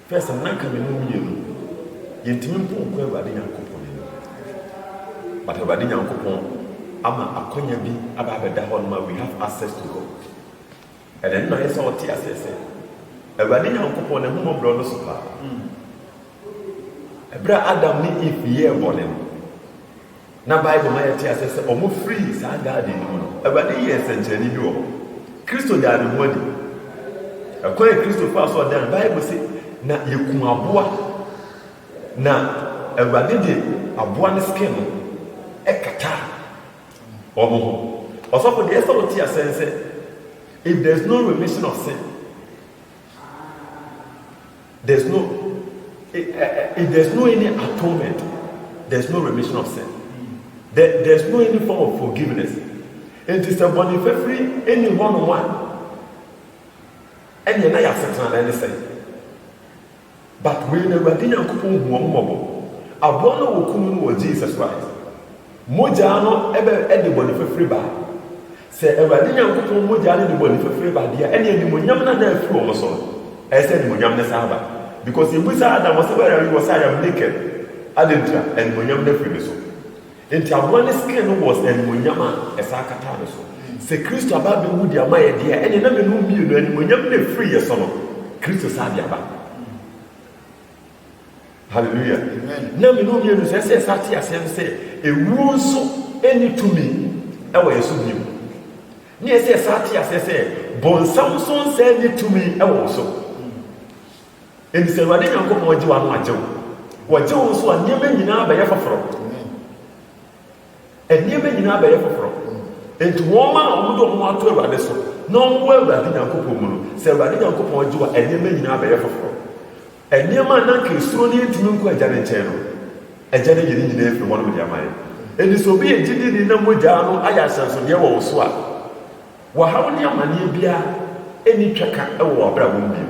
First no na anka me ne wo mmienu yɛntumi mpo nkɔ Awurade Nyankopɔn anim. But Awurade Nyankopɔn ama akwanya bi aba abɛda hɔ nom a we have access to God. Ɛda no na ayɛ sɛ ɔte aseɛ sɛ Awurade Nyankopɔn n'ahummɔborɔ dɔso paa. Ɛberɛ a Adam ne Eve yɛɛ bɔne no, na Bible ma yɛte aseɛ sɛ wɔfirii saa garden no mu no, Awurade yɛɛ nsɛnkyerɛnne bi wɔ hɔ. Kristo daa ne ho adi. Ɛkwan a Kristo faa so ɔdaa no, Bible se, na yɛku aboa, na Awurade de aboa no skin no kataa. wɔn ho. Ɔsɔfo deɛ ɛsɛ sɛ ɔte asɛn sɛ, if there's no remission of sin, there's no, eh, eh, eh, if there's no any atonement, there's no remission of sin. There, there's no any form of forgiveness. It is a body fafiri any one on one. And you're not a certain anything. But wei no Awurade Nyankopɔn hu wɔn mmɔbɔ. Aboa no a wɔku no no wɔ Jesus Christ mogyaa no bɛ de bɔne fafire baa. Sɛ Awurade Nyankopɔn mogyaa no de bɔne fafire ba deɛ a, ɛnneɛ animuonyam no a na afiri wɔn so no, ɛsɛ sɛ animuonyam no san ba. Because yɛbisaa Adam, ɔse, Where are you? Ɔse, I am naked. Adɛn nti a? Animuonyam no afiri ne so. Enti aboa no skin no was animuonyam a ɛsan kataa ne so. Sɛ Kristo aba abewu de ama yɛn deɛ a, ɛneɛ na mene wo mmienu animuonyam no a ɛfiri yɛn so no, Kristo saa de aba. Hallelujah. Na mene wo mmienu sɛ ɛsɛ ɛsa te aseɛ no sɛ ewuo nso ɛni tumi ɛwɔ yɛn so bio. Ne ɛsɛ ɛsa te aseɛ sɛ bɔnsam nso nsa ɛni tumi ɛwɔ wo so. Enti sɛ Awurade Nyankopɔn gye wo a na wagye wo. Ɔgye wo nso a, nneɛma nyinaa bɛyɛ foforɔ. Nneɛma nyinaa bɛyɛ foforɔ. Enti wɔn a wɔde wɔn ho ato Awurade so na wɔwɔ Awurade Nyankopɔn mu no, sɛ Awurade Nyankopɔn gye wo a, nneɛma nyinaa bɛyɛ foforɔ. Nneɛma a na anka yɛsuro no yɛntumi nkɔ Agya no nkyɛn no, Agya no ayi ne nyinaa afiri hɔnom de ama yɛn. Enti sɛ obi yɛ gyidini na mogya no ayɛ ahyɛnsodeɛ wɔ wo so a, Wɔhaw ne amanneɛ biara nni twaka wɔ w'abrabɔ mu bio.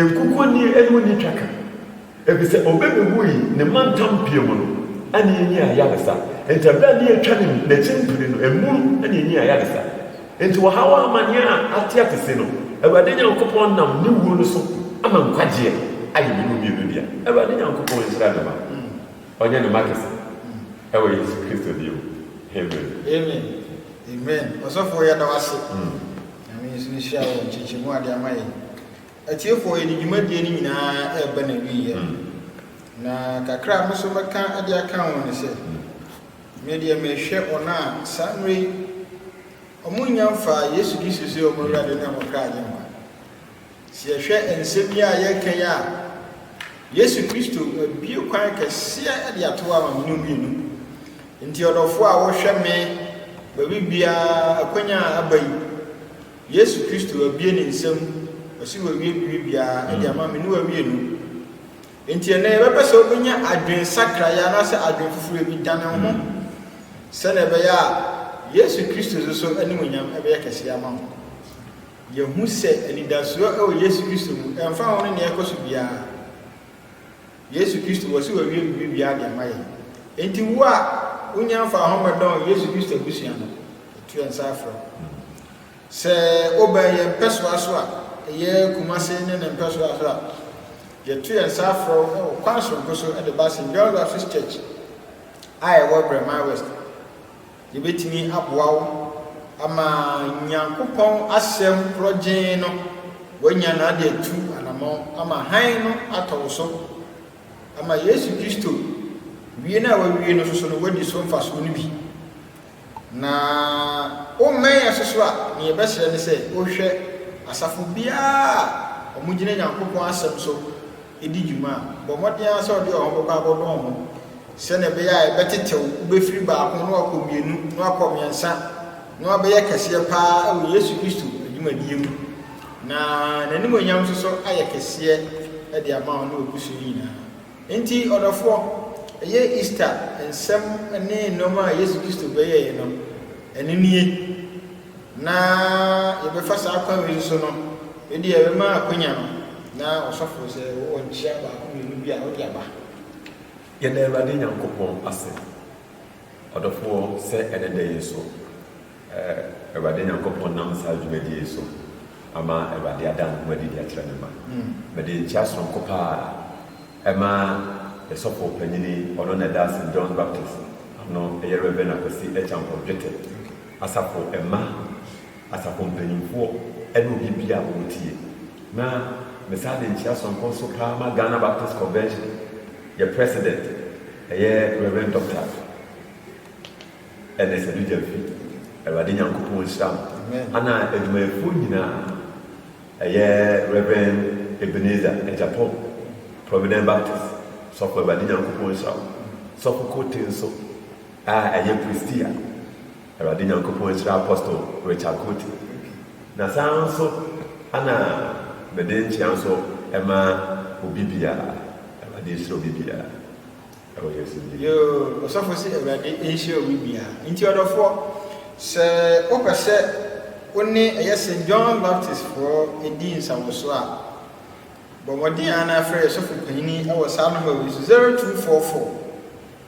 Nkukuoni ne wo nni twaka, efisɛ obebewui ne mantam pii mu no na enyi ayaresa. Enti bere a ne atwa ne n'akyi mpene no, emu na enyi ayaresa. Enti wɔhaw a amanneɛ a ateɛte se no, Awurade Nyankopɔn nam ne wuo no so ama nkwagyeɛ ayɛ me ne wo mmienu dea. Awurade Nyankopɔn nhyira ne mma. Ɔnyɛ ne mma kɛse wɔ Yesu Kristo deɛ mu. Amen. Amen Amen Ɔsɔfoɔ yɛda wo ase Nyame nso nhyira wo wɔ nkyekyɛmu a de ama yɛn Atiefoɔ yɛde dwumadie no nyinaa ɛreba na wieɛ Na kakra a me nso mɛka de aka ho ne sɛ Me deɛ mehwɛ wɔn a saa mmerɛ yi Wɔn nnya mfaa Yesu Kristo sɛ wɔn Awurade ne wɔn kra agyenkwa Sɛ yɛhwɛ nsɛm yi a yɛreka yi a, Yesu Kristo abue kwan kɛseɛ de ato ama me ne wo mmienu. Nti ɔdɔfoɔ a wohwɛ me baabi biara akwanya a aba yi, Yesu Kristo abue ne nsam, ɔsi wawie biribi biara de ama me ne wo mmienu. Nti ɛnɛ yɛbɛpɛ sɛ wobɛnya adwen sakraeɛ anaasɛ adwen foforɔ bi dane wo ho sɛdeɛ ɛbɛyɛ a Yesu Kristo nso so animuonyam ɛbɛyɛ kɛseɛ ama wo. Yɛahu sɛ anidasoɔ wɔ Yesu Kristo mu ɛmfa ho ne nea ɛrekɔ so biara. Yesu Kristo, wɔse wawie biribibiara de ama yɛn. Enti wo a wonya mfaa ho mmɛdɔn Yesu Kristo abusua no, yɛto yɛn nsa afrɛ wo. Sɛ wobɛn yɛn mpɛsoa so a, ɛyɛ Kumase ne ne mpɛsoa so a, yɛto yɛn nsa afrɛ wo wɔ kwan soronko so de ba St. John's Baptist Church a ɛwɔ Brɛman West. Yɛbɛtumi aboa wo ama Nyankopɔn Asɛm Korɔgyeen no woanya no ade atu anamɔn ama hann no atɔ wo so ama Yesu Kristo wie no a wawie no soso no woadi so mfasoɔ no bi. Na wommɛn yɛn soso a, ne yɛbɛsrɛ ne sɛ wohwɛ asafo biara a wɔgyina Nyankopɔn Asɛm so di dwuma a, bɔ mmɔden ara sɛ wode wɔn bɛkɔ abɔdɔn ho sɛnea ɛbɛyɛ a ɛbɛtetew, wobefiri baako na wɔakɔ mmienu, na wɔakɔ mmiɛnsa, na wɔabɛyɛ kɛseɛ paa wɔ Yesu Kristo adwumadie mu, na N'animuonyam nso so ayɛ kɛseɛ de ama wo ne w'abusua nyinaa. Enti, ɔdɔfoɔ, ɛyɛ Easter nsɛm ne nneɛma a Yesu Kristo bɛyɛeɛ no, ɛno nie. Na yɛbɛfa saa kwan wei so no, ebia yɛbɛma akwanya no na ɔsɔfo sɛ wowɔ nkyia baako mmienu bi a wode aba. Yɛda Awurade Nyankopɔn ase, ɔdɔfoɔ, sɛ ɛnɛ da yi nso Awurade Nyankopɔn nam saa dwumadie yi so ama Awurade ada ne ho adi de akyerɛ ne mma. Hmm. Mede nkyia soronko paa ɛma ɛsɔfo panyini ɔno na ɛda ase John Baptist ano ɛyɛ Reverend Akwasi Ekyampong Dwete. Asafo mma, asafo mpanyimfoɔ ne obi biara a ɔwɔ tie. Na me saa de nkyea soronko nso paa ma Ghana Baptist Convention, yɛ President, ɛyɛ Rev. Dɔkta Ernest Adu Gyamfi, Awurade Nyankopɔn nhyira wo, ɛna adwumayɛfoɔ nyinaa, ɛyɛ Rev. Ebenezer Agyapong, Providence Baptist, Sɔfo Awurade Nyankopɔn nhyira wo, Sɔfo Kortey nso, A ɛyɛ Christie a Awurade Nyankopɔn ahyira Apostle Richard Cote, na saa ara nso na mede nkyea nso ma obi biara. Awurade ahyira obi biara ɛwɔ Yesu din mu. Yoo, ɔsɔfo se Awurade nhyira obi biara. Nti ɔdɔfoɔ, sɛ wopɛ sɛ wo ne ɛyɛ St. John Baptist foɔ di nsawɔsoɔ a, bɔ mmɔden ara na frɛ yɛn sɔfo panyini wɔ saa nɔmba wei so, 0244.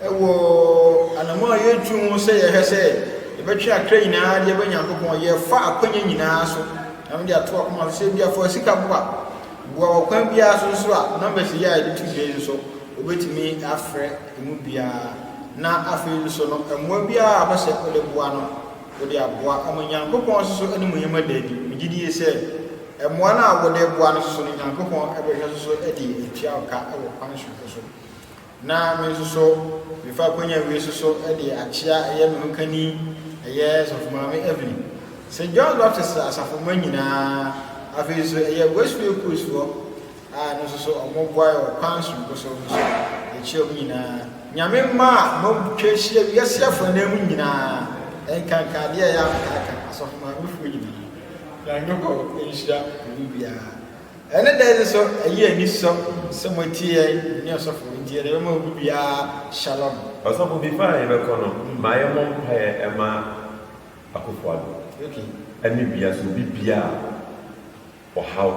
Wɔ anammɔn a yɛretu mu sɛ yɛhwɛ sɛ yɛbɛtwe akra nyinaa de aba Nyankopɔn, yɛfa akwanya nyinaa so. Na mede ato akoma so sɛ bi afa sika boa, boa wɔ kwan biara so nso a, numbers yi a yɛde to dwa yi nso, wobɛtumi afrɛ emu biara. Na afei nso no, mmoa biara a wobɛsɛ wode boa no, wode aboa ama Nyankopɔn nso so anim yɛm ada adi. Megye die sɛ mmoa no a wode boa no nso so no, Nyankopɔn bɛhwɛ nso so de atua wo ka wɔ kwan soronko so. na me nso so mefa akwanya wei nso so de akyea ɛyɛ me ho kani ɛyɛ sɔfo maame Evelyn St. John's Baptist asafo mma nyinaa afei nso ɛyɛ West Way Cruise foɔ a no nso so wɔn boa wɔ kwan soronko so no so ɛkyia wɔn nyinaa nyame mma a motwa ahyia wiase afɔ anan mu nyinaa ɛnkanka adeɛ a ɛyɛ amkaaka asɔfo maame foɔ nyinaa na nyɔkɔ nhyira obi biara Ɛne dɛn nso ɛyɛ anisɔ sɛ moatie yɛn ne ɔsɔfo nti yɛde bɛma obi biara shalom. Ɔsɔfo before a yɛbɛkɔ no ma yɛmmɔ mpaeɛ ɛma Akuffo Addo ɛne bia sɛ obi bia a ɔhaw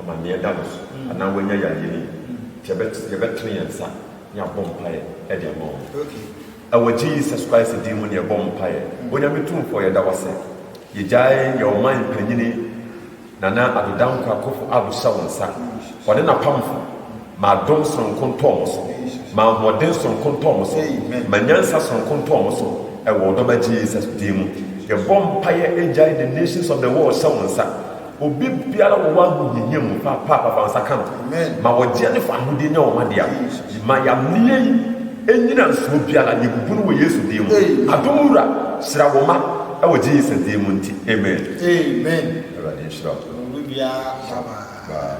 amaneɛ da no so anaa wanya yareɛ no bi nti yɛbɛtene yɛn nsa ne abɔ mpaeɛ ɛde ama wɔn ɛwɔ Jesus Christ din mu ne yɛbɔ mpaeɛ Onyame Tumfoɔ yɛda wo ase yɛgyae yɛ ɔman mpanyini Nana Addo Dankwa Akuffo Addo hyɛ wo nsa, ɔne n'apamfo, Ma adom soronko ntɔ wɔn so, ma ahoɔden soronko ntɔ wɔn so, ma nyansa soronko ntɔ wɔn so, wɔ wo Dɔba Jesus din mu. Yɛbɔ mpaeɛ, Agya yi, the nations of the world hyɛ wo nsa, obi biara wɔ hɔ a ahohiahia mu, Paapa fa wo nsa ka no, ma wɔgyeɛ ne fa ahodeɛ nya wɔn adea, Ma yamneyɛ yi nnyina nsuo biara yɛbubu no wɔ Yesu din mu adom wura hyira wo ma ɛwɔ Jesus din mu nti amen. Amen Awurade nhyira wo. Bye.